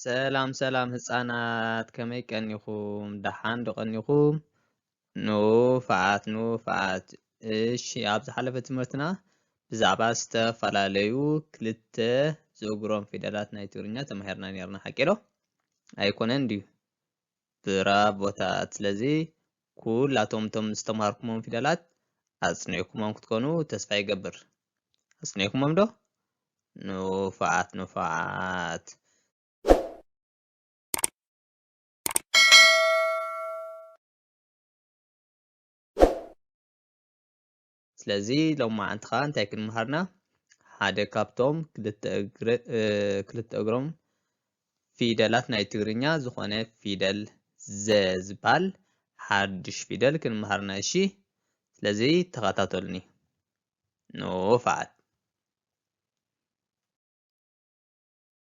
ሰላም ሰላም ህፃናት ከመይ ቀኒኹም ደሓን ዶ ቀኒኹም ንፉዓት ንፉዓት እሺ ኣብ ዝሓለፈ ትምህርትና ብዛዕባ ዝተፈላለዩ ክልተ ዝእግሮም ፊደላት ናይ ትግርኛ ተማሂርና ነርና ሓቂ ዶ ኣይኮነን ድዩ ብራቮታት ስለዚ ኩላቶም እቶም ዝተምሃርኩሞም ፊደላት ኣጽኒዕኩሞም ክትኮኑ ተስፋ ይገብር ኣጽኒዕኩሞም ዶ ንፉዓት ንፉዓት ስለዚ ሎማዓንቲ ከኣ እንታይ ክንምሃርና ሓደ ካብቶም ክልተ እግሮም ፊደላት ናይ ትግርኛ ዝኾነ ፊደል ዘ ዝባል ሓድሽ ፊደል ክንምሃርና እሺ ስለዚ ተኸታተሉኒ ንፋዓት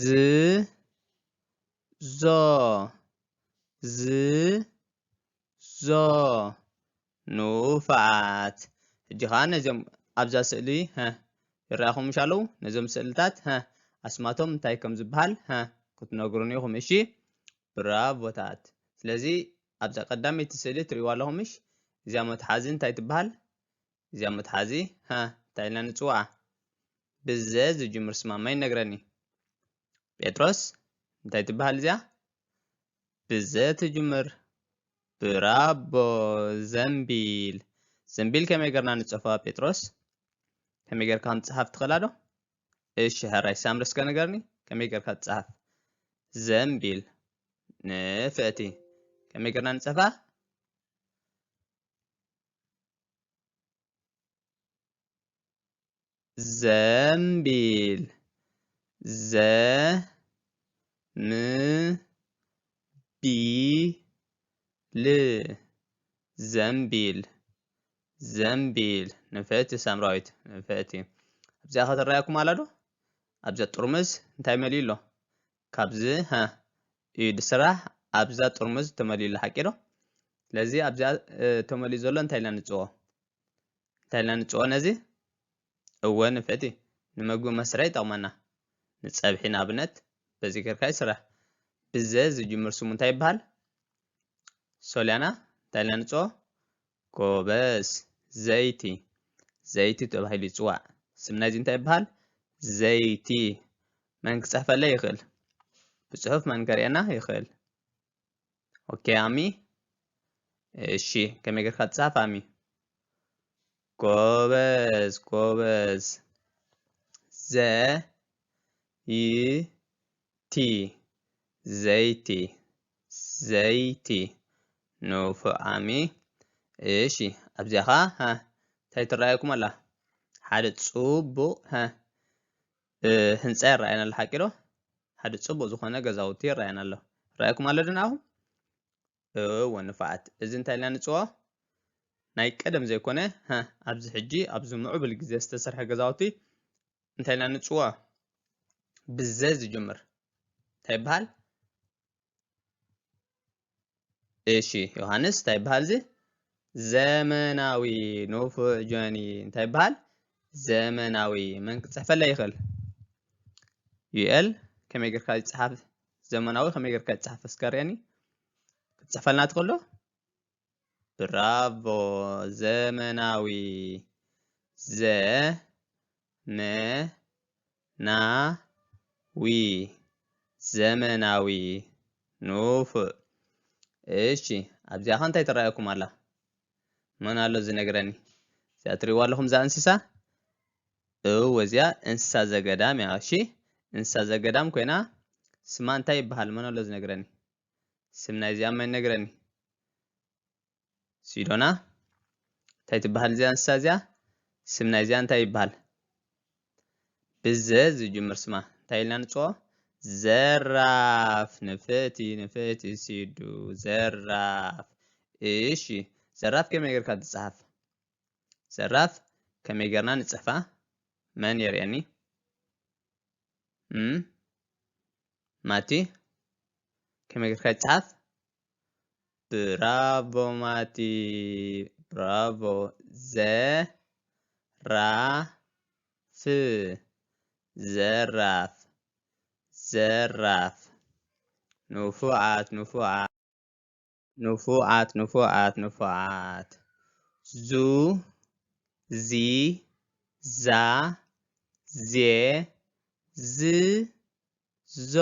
ዝ ዞ ዝ ዞ ንኡፋት ሕጂ ኸኣ ነዚኦም ኣብዛ ስእሊ ሀ ይረኣኹም ምሽ ኣለዉ ነዞም ስእልታት ሀ ኣስማቶም እንታይ ከም ዝበሃል ሀ ክትነግሩን ኢኹም እሺ ብራቮታት ስለዚ ኣብዛ ቀዳመይቲ ስእሊ ትርእይዋ ኣለኹም ምሽ እዚኣ መትሓዚ እንታይ ትበሃል እዚኣ መትሓዚ ሃ እንታይ ኢልና ንጽውዓ? ብዘ ዝጅምር ስማማ ይነግረኒ። ጴጥሮስ እንታይ ትበሃል እዚኣ? ብዘ ትጅምር። ብራቦ ዘንቢል ዘንቢል ከመይ ገርና ንጽሕፋ ጴጥሮስ? ከመይ ገርካ ከም ትጽሓፍ ትኽእላ ዶ? እሺ ሕራይ ሳምሪ እስከ ንገርኒ ከመይ ገርካ ትጽሓፍ? ዘንቢል ንፍዕቲ ከመይ ገርና ንጽሕፋ? ዘምቢል ዘ ም ቢ ል ዘምቢል ዘምቢል ንፍዕቲ ሳምራዊት ንፍዕቲ ኣብዚኣ ከተረኣየኩም ኣላ ዶ ኣብዚኣ ጥርሙዝ እንታይ መሊኡ ኣሎ ካብዚ ሃ እዩ ድስራሕ ኣብዛ ጥርሙዝ ተመሊኡ ኣሎ ሓቂ ዶ ስለዚ ኣብዚኣ ተመሊኡ ዘሎ እንታይ ኢልና ንጽዎ እንታይ ኢልና ንጽዎ ነዚ እወ ንፍዕቲ ንመግቢ መስርሒ ይጠቕመና ንጸብሒ ንኣብነት በዚ ጌርካ ይስራሕ ብዘ ዝጅምር ስሙ እንታይ ይበሃል ሶልያና እንታይ ኢልና ንጽዎ ጎበዝ ዘይቲ ዘይቲ ተባሂሉ ይፅዋዕ። ስም ናይዚ እንታይ ይበሃል? ዘይቲ መን ክፅሕፈለይ ይኽእል? ብፅሑፍ መን ከርእየና ይኽእል? ኦኬ ኣሚ እሺ ከመይ ጌርካ ትፅሓፍ ኣሚ ጎበዝ ጎበዝ ዘ ይ ዘይቲ ዘይቲ ዘይቲ ንፉዕ ኣሚ እሺ ኣብዚኣ ኸዓ ሃ እንታይ ትረኣየኩም ኣላ ሓደ ጽቡቕ ሃ ህንጻ ይረኣየና ኣሎ ሓቂ ዶ ሓደ ጽቡቕ ዝኾነ ገዛውቲ ይረኣየና ኣሎ ይረኣየኩም ኣሎ ድንኣኹም እወ ንፉዓት እዚ እንታይ ኢልና ንጽውዖ ናይ ቀደም ዘይኮነ ሃ ኣብዚ ሕጂ ኣብዚ ምዕቡል ግዜ ዝተሰርሐ ገዛውቲ እንታይ ኢልና ንጽውዖ ብዘ ዝጅምር እንታይ ይበሃል እሺ ዮሃንስ እንታይ ይበሃል እዚ ዘመናዊ ንፉዕ ጆኒ እንታይ ይበሃል ዘመናዊ መን ክፅሕፈለይ ይኽእል ዩኤል ከመይ ጌርካ ይፅሓፍ ዘመናዊ ከመይ ጌርካ ይጽሓፍ እስከ ርኣኒ ክትጽሕፈልና ትኽእሎ ብራቮ ዘመናዊ ዘ መ ና ዊ ዘመናዊ ንፉዕ እሺ ኣብዚኣ ኸ እንታይ ትረኣየኩም ኣላ መን ኣሎ ዝነግረኒ እዚኣ ትሪእዋ ኣለኹም እዛ እንስሳ እው እዚኣ እንስሳ ዘገዳም እያ እሺ እንስሳ ዘገዳም ኮይና ስማ እንታይ ይበሃል መን ኣሎ ዝነግረኒ ስም ናይዚኣ መን ነግረኒ ሲዶና እንታይ ትበሃል እዚኣ እንስሳ እዚኣ ስም ናይዚኣ እንታይ ይበሃል ብዘ ዝጅምር ስማ እንታይ ኢልና ንፅኦ ዘራፍ ንፍእቲ ንፍእቲ ሲዱ ዘራፍ እሺ ዘራፍ ከመይ ጌርካ ትፅሓፍ ዘራፍ ከመይ ገርና ንጽሕፋ መን የርእየኒ እም ማቲ ከመይ ገርካ ይጽሓፍ ብራቮ ማቲ ብራቮ ዘራፍ ዘራፍ ዘራፍ ንፉዓት ንፉዓት ንፉዓት ንፉዓት ንፉዓት ዙ ዚ ዛ ዜ ዝ ዞ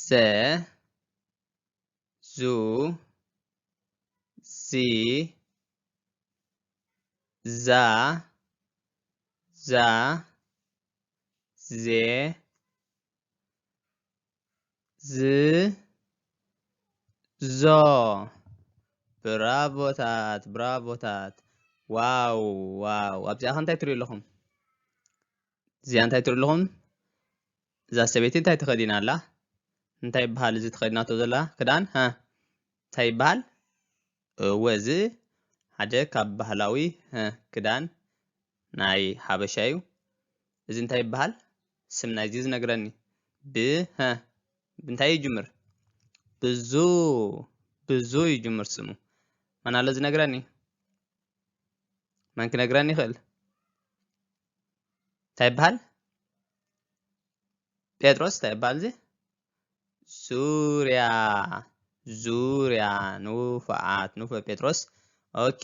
ዘ ዙ ዚ ዛ ዛ ዜ ዝ ዞ ብራቮታት ብራቮታት ዋው ዋው ኣብዚኣ ከ እንታይ ትሪኡ ኣለኹም እዚኣ እንታይ ትሪኡ ኣለኹም እዛ ሰበይቲ እንታይ ተኸዲና ኣላ? እንታይ ይበሃል እዚ ተኸዲናቶ ዘላ ክዳን? ሃ እንታይ ይበሃል? እወ እዚ ሓደ ካብ ባህላዊ ሃ ክዳን ናይ ሓበሻ እዩ። እዚ እንታይ ይበሃል? ስም ናይዚ ዝነግረኒ ብ ሃ ብንታይ ይጅምር? ብዙ ብዙ ይጅምር ስሙ። መን ኣሎ ዝነግረኒ? መን ክነግረኒ ይኽእል? እንታይ ይበሃል ጴጥሮስ እንታይ ይበሃል እዚ ዙርያ ዙርያ ንፉዓት ንፉ ጴጥሮስ ኦኬ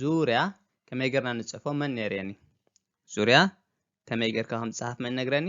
ዙርያ ከመይ ጌርና ንጽሕፎ መን ነርየኒ ዙርያ ከመይ ጌርካ ከም ዝጽሓፍ መን ነግረኒ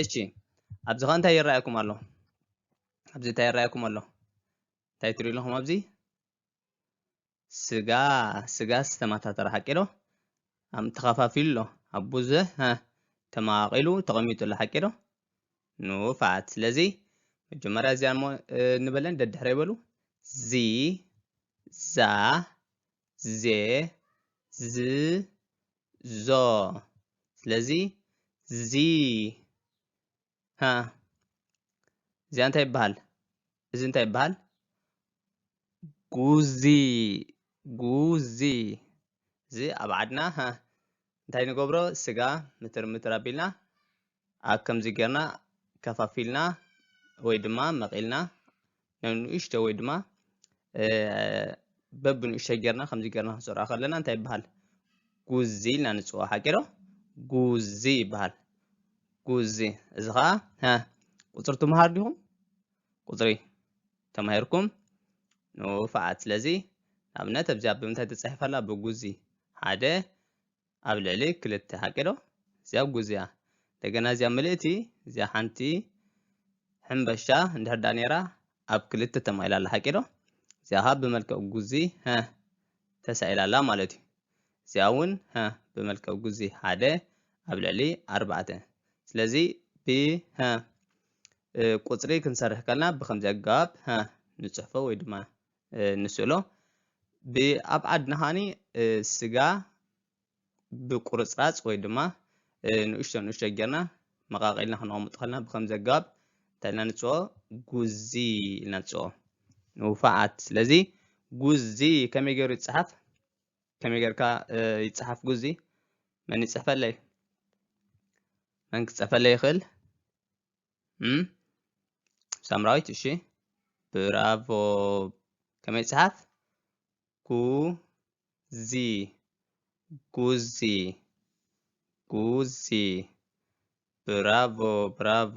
እሺ ኣብዚ ከ እንታይ ይረኣየኩም ኣሎ ኣብዚ እንታይ ይረኣየኩም ኣሎ እንታይ ትሪኡ ኣለኹም ኣብዚ ስጋ ስጋ ዝተመታተረ ሓቂ ዶ ኣም ተኸፋፊሉ ኣሎ ኣብ ብዙሕ ተማቂሉ ተቐሚጡ ኣሎ ሓቂ ዶ ንፋት ስለዚ መጀመርያ እዚኣ እሞ ንበለን ደድሕረ ይበሉ ዚ ዛ ዜ ዝ ዞ ስለዚ ዚ ሃ እዚኣ እንታይ ይበሃል እዚ እንታይ ይበሃል ጉዚ ጉዚ እዚ ኣብ ዓድና እንታይ ንገብሮ ስጋ ምትር ምትር ኣቢልና ኣብ ከምዚ ጌርና ከፋፊልና ወይ ድማ መቒልና ንእሽቶ ወይ ድማ በብንእሽቶ ጌርና ከምዚ ጌርና ክንሰርዖ ከለና እንታይ ይበሃል ጉዚ ኢልና ንፅውዖ ሓቂ ዶ ጉዚ ይበሃል ጉዚ እዚ ከዓ ቁፅሪ ትምሃር ዲኹም ቁፅሪ ተማሂርኩም ንውፍዓት ስለዚ ንኣብነት ኣብዚኣ ብምንታይ ተፃሒፋላ ብጉዚ ሓደ ኣብ ልዕሊ ክልተ ሓቂ ዶ እዚኣ ጉዝያ እንደገና እዚኣ ምልእቲ እዚኣ ሓንቲ ሕምበሻ እንድሕር ዳኣ ነይራ ኣብ ክልተ ተማኢላ ኣላ ሓቂ ዶ እዚኣ ካብ ብመልክዕ ጉዚ ሀ ተሳኢላ ኣላ ማለት እዩ እዚኣ እውን ሀ ብመልክዕ ጉዚ ሓደ ኣብ ልዕሊ ኣርባዕተ ስለዚ ብሀ ቁፅሪ ክንሰርሕ ከልና ብከምዚ ኣገባብ ሀ ንፅሕፎ ወይ ድማ ንስእሎ ብኣብ ዓድና ከዓኒ ስጋ ብቁርፅራፅ ወይ ድማ ንእሽቶ ንእሽቶ ጌርና መቃቂልና ክነቐምጦ ከለና ብከምዚ ኣገባብ እንታይ ኢልና ንፅኦ ጉዚ ኢልና ንፅኦ ንውፋዓት ስለዚ ጉዚ ከመይ ገይሩ ይፅሓፍ ከመይ ጌርካ ይፅሓፍ ጉዚ መን ይፅሕፈለይ መን ክፅሕፈለይ ይኽእል ሳምራዊት እሺ ብራቮ ከመይ ጽሓፍ ጉዚ ጉዚ ጉዚ ብራቮ ብራቮ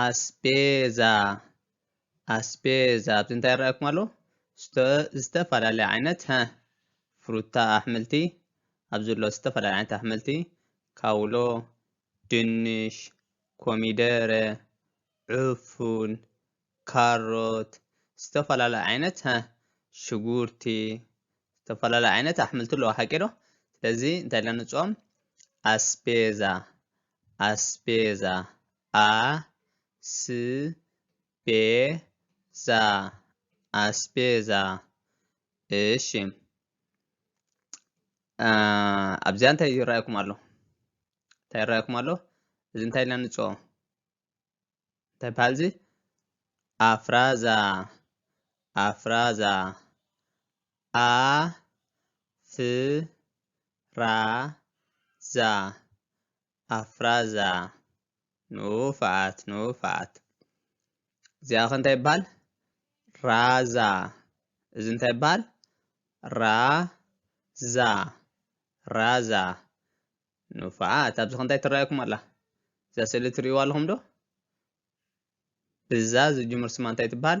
ኣስፔዛ ኣስፔዛ ኣብዚ እንታይ ይረኣየኩም ኣሎ ዝተፈላለየ ዓይነት ሀ ፍሩታ ኣሕምልቲ ኣብዚ ዘሎ ዝተፈላለየ ዓይነት ኣሕምልቲ ካውሎ ድንሽ ኮሚደረ ዕፉን ካሮት ዝተፈላለየ ዓይነት ሀ ሽጉርቲ ዝተፈላለየ ዓይነት ኣሕምልቲ ኣለዎ ሓቂ ዶ ስለዚ እንታይ ኢልና ንፅኦም ኣስፔዛ ኣስፔዛ ኣስቤዛ ኣስቤዛ እሺ ኣብዚኣ እንታይ ይረኣየኩም ኣሎ እንታይ ይረኣየኩም ኣሎ እዚ እንታይ ኢልና ንፅኦ እንታይ በሃል እዚ ኣፍራዛ ኣፍራዛ ኣፍራዛ ኣፍራዛ ንውፋት ንውፋት እዚኣ ከ እንታይ ይበሃል ራዛ እዚ እንታይ ይበሃል ራዛ ራዛ ንውፋት ኣብዚ ከ እንታይ ትረኣየኩም ኣላ እዛ ስእሊ ትርእይዋ ኣለኹም ዶ ብዛ ዝጅምር ስማ እንታይ ትበሃል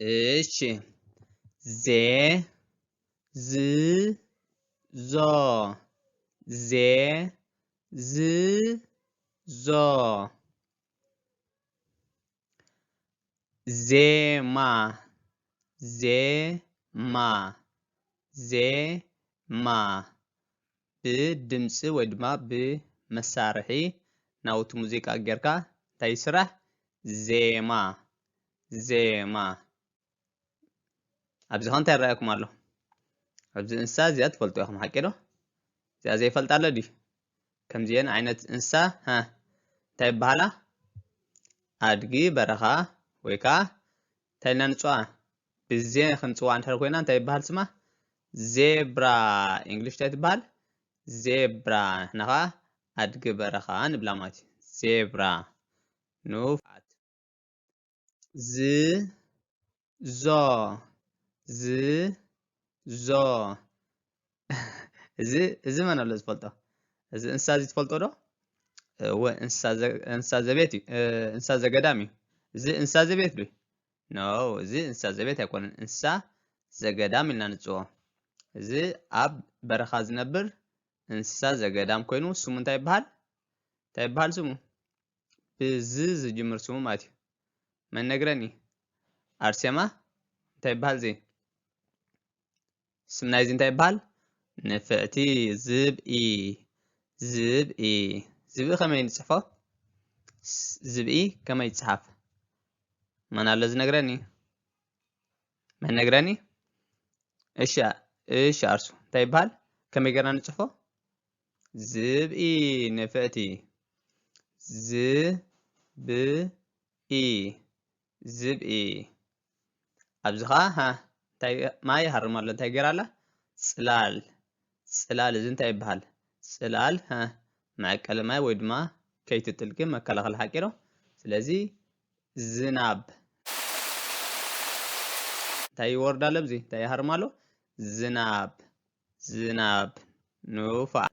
እሺ ዜ ዝ ዞ ዜ ዝ ዞ ዜማ ዜማ ዜማ ብድምጺ ወይ ድማ ብመሳርሒ ናውቲ ሙዚቃ ጌርካ እንታይ ይስራሕ ዜማ ዜማ ኣብዚ ከ እንታይ ይረኣየኩም ኣሎ ኣብዚ እንስሳ እዚኣ ትፈልጡ ኢኹም ሓቂ ዶ እዚኣ ዘይፈልጣ ኣሎ ድዩ ከምዚአን ዓይነት እንስሳ ሃ እንታይ ይበሃላ ኣድጊ በረኻ ወይ ከዓ እንታይ ኢልና ንፅዋ ብዜ ክንጽዋ እንድሕር ኮይና እንታይ ይበሃል ስማ? ዜብራ ኢንግሊሽ እንታይ ትበሃል? ዜብራ ንሕና ከኣ ኣድጊ በረኻ ንብላ ማለት እዩ። ዜብራ ንፉዓት ዝ ዞ ዝ ዞ እዚ እዚ መን ኣሎ ዝፈልጦ እዚ እንስሳ እዚ ትፈልጦ ዶ እወ እንስሳ ዘቤት እዩ እንስሳ ዘገዳም እዩ እዚ እንስሳ ዘቤት ዶ ኖ እዚ እንስሳ ዘቤት ኣይኮነን እንስሳ ዘገዳም ኢልና ንፅዎ እዚ ኣብ በረኻ ዝነብር እንስሳ ዘገዳም ኮይኑ ስሙ እንታይ ይበሃል? እንታይ ይበሃል ስሙ? ብዝ ዝጅምር ስሙ ማለት እዩ። መን ነግረኒ? ኣርሴማ እንታይ ይበሃል ዘይ? ስም ናይዚ እንታይ ይበሃል ንፍዕቲ ዝብኢ ዝብኢ ዝብኢ ከመይ ንፅሕፎ ዝብኢ ከመይ ይፅሓፍ መን ኣሎ ዝነግረኒ መን ነግረኒ እሺ እሺ ኣርሱ እንታይ ይበሃል ከመይ ገርና ንፅሕፎ ዝብኢ ንፍዕቲ ዝብኢ ዝብኢ ኣብዚ ከዓ ሃ እንታይ ማይ ይሃርም ኣሎ እንታይ ገይራ ኣላ ፅላል ፅላል እዚ እንታይ ይበሃል ፅላል ሃ መዐቀሊ ማይ ወይ ድማ ከይትጥልቂ መከላኸሊ ሓቂ ዶ ስለዚ ዝናብ እንታይ ይወርድ ኣሎ ኣብዚ እንታይ ይሃርም ኣሎ ዝናብ ዝናብ ንፉዓት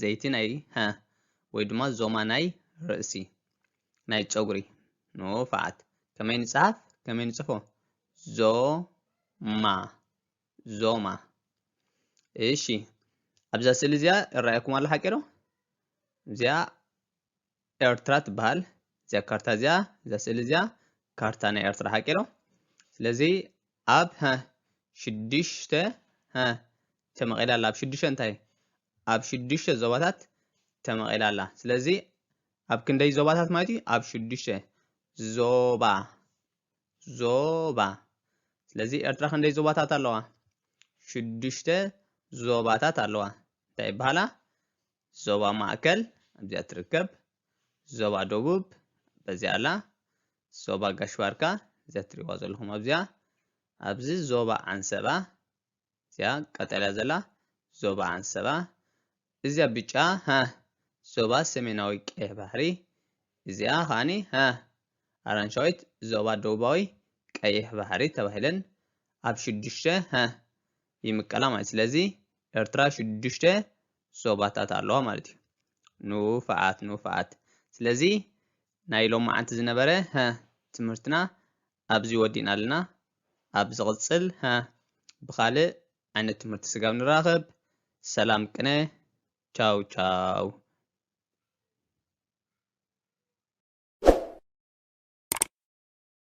ዘይቲ ናይ ሀ ወይ ድማ ዞማ ናይ ርእሲ ናይ ጨጉሪ ንፋዓት ከመይ ንጽሓፍ ከመይ ንጽፎ ዞማ ዞማ እሺ ኣብዛ ስእሊ እዚኣ ይረኣየኩም ኣሎ ሓቂ ዶ እዚኣ ኤርትራ ትበሃል እዚኣ ካርታ እዚኣ እዛ ስእሊ እዚኣ ካርታ ናይ ኤርትራ ሓቂ ዶ ስለዚ ኣብ ሀ ሽዱሽተ ሀ ተመቒላ ኣላ ኣብ ሽዱሽተ እንታይ ኣብ ሽዱሽተ ዞባታት ተመቒላ ኣላ ስለዚ ኣብ ክንደይ ዞባታት ማለት እዩ ኣብ ሽዱሽተ ዞባ ዞባ ስለዚ ኤርትራ ክንደይ ዞባታት ኣለዋ ሽዱሽተ ዞባታት ኣለዋ እንታይ ይበሃላ ዞባ ማእከል ኣብዚኣ ትርከብ፣ ዞባ ደቡብ በዚኣ ኣላ፣ ዞባ ጋሽ ባርካ እዚኣ ትሪእዋ ዘለኹም ኣብዚኣ፣ ኣብዚ ዞባ ዓንሰባ እዚኣ ቀጠልያ ዘላ ዞባ ዓንሰባ፣ እዚኣ ብጫ ሃ ዞባ ሰሜናዊ ቀይሕ ባሕሪ፣ እዚኣ ከኣኒ ሃ ኣራንሻዊት ዞባ ደቡባዊ ቀይሕ ባሕሪ ተባሂለን ኣብ ሽዱሽተ ሃ ይምቀላ ማለት ስለዚ ኤርትራ ሽዱሽተ ዞባታት ኣለዋ ማለት እዩ ኑፋዓት ኑፋዓት ስለዚ ናይ ሎማዓንቲ ዝነበረ ሀ ትምህርትና ኣብዚ ወዲእና ኣለና ኣብ ዝቕጽል ሀ ብኻልእ ዓይነት ትምህርቲ ስጋብ ንራኸብ ሰላም ቅነ ቻው ቻው